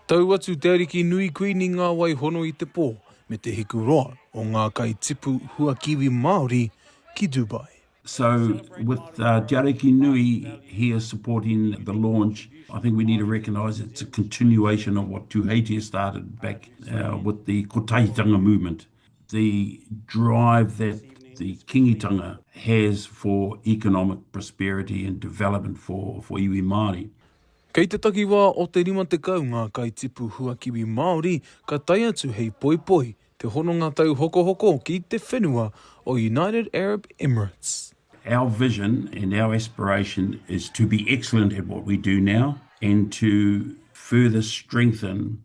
Tau atu te ariki nui Kuini Ngāwaihono i te pō me te hiku roa o ngā kai tipu hua kiwi Māori ki Dubai. So with Te Ariki Nui here supporting the launch, I think we need to recognise it's a continuation of what Tuheitia started back with the Kotahitanga movement, the drive that the Kingitanga has for economic prosperity and development for iwi Māori. Kei te takiwā o te 50 ngā kaitipu huakiwi Māori ka tae atu hei poipoi te hononga tauhokohoko ki te whenua o United Arab Emirates. Our vision and our aspiration is to be excellent at what we do now and to further strengthen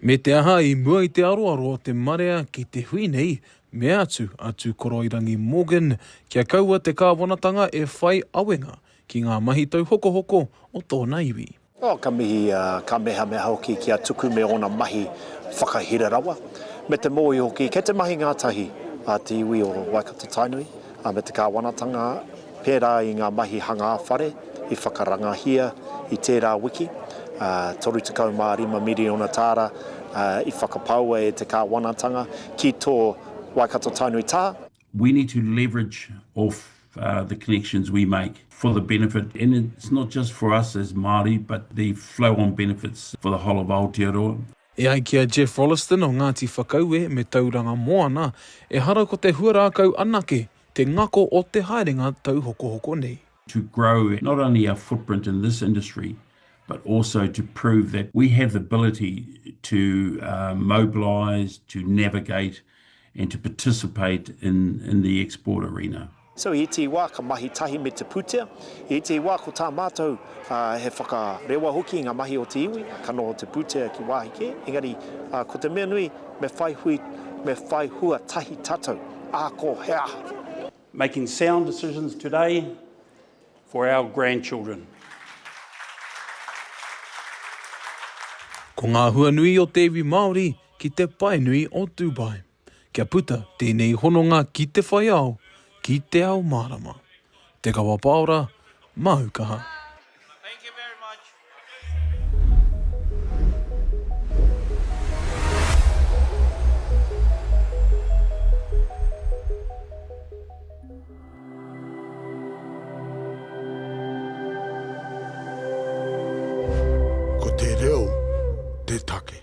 Me te aha, i mua i te aroaro o te marea ki te hui nei, mea atu a Tūkoroirangi Morgan kia kaua te kāwanatanga e whai awenga ki ngā mahi tauhokohoko o tōna iwi. Oh, ka mihi a Kamehameha hoki ki a Tuku me ōna mahi whakahira rawa, me te mōhio hoki kei te mahi ngātahi a te iwi o Waikato-Tainui. ā, me te kāwanatanga pērā i ngā mahi hangā whare i whakarangahia i tērā wiki, ā, 35 miriona tāra i whakapaua e te kāwanatanga ki tō Waikato Tainui Tā. We need to leverage off the connections we make for the benefit, and it's not just for us as Māori, but the flow-on benefits for the whole of Aotearoa. E ai ki a Geoff Rolleston o Ngāti Whakaue me Tauranga Moana, ehara ko te huarākau anake te ngako o te haerenga tauhokohoko nei. to grow not only our footprint in this industry but also to prove that we have the ability to mobilise, to navigate and to participate in in the export arena. So i ētehi wā ka mahi tahi me te pūtea, i ētehi wā ko tā mātou he whakarewa hoki i ngā mahi o te iwi, ka noho te pūtea ki wāhi kē, engari ko te mea nui me whai hui, me whai hua tahi tātou, ako he aha. Making sound decisions today for our grandchildren. Ko ngā hua nui o te iwi Māori ki te pae nui o Dubai, kia puta tēnei hononga ki te whai ao, ki te ao mārama. Te Kawa Paora, māu kaha. Ko te reo te take.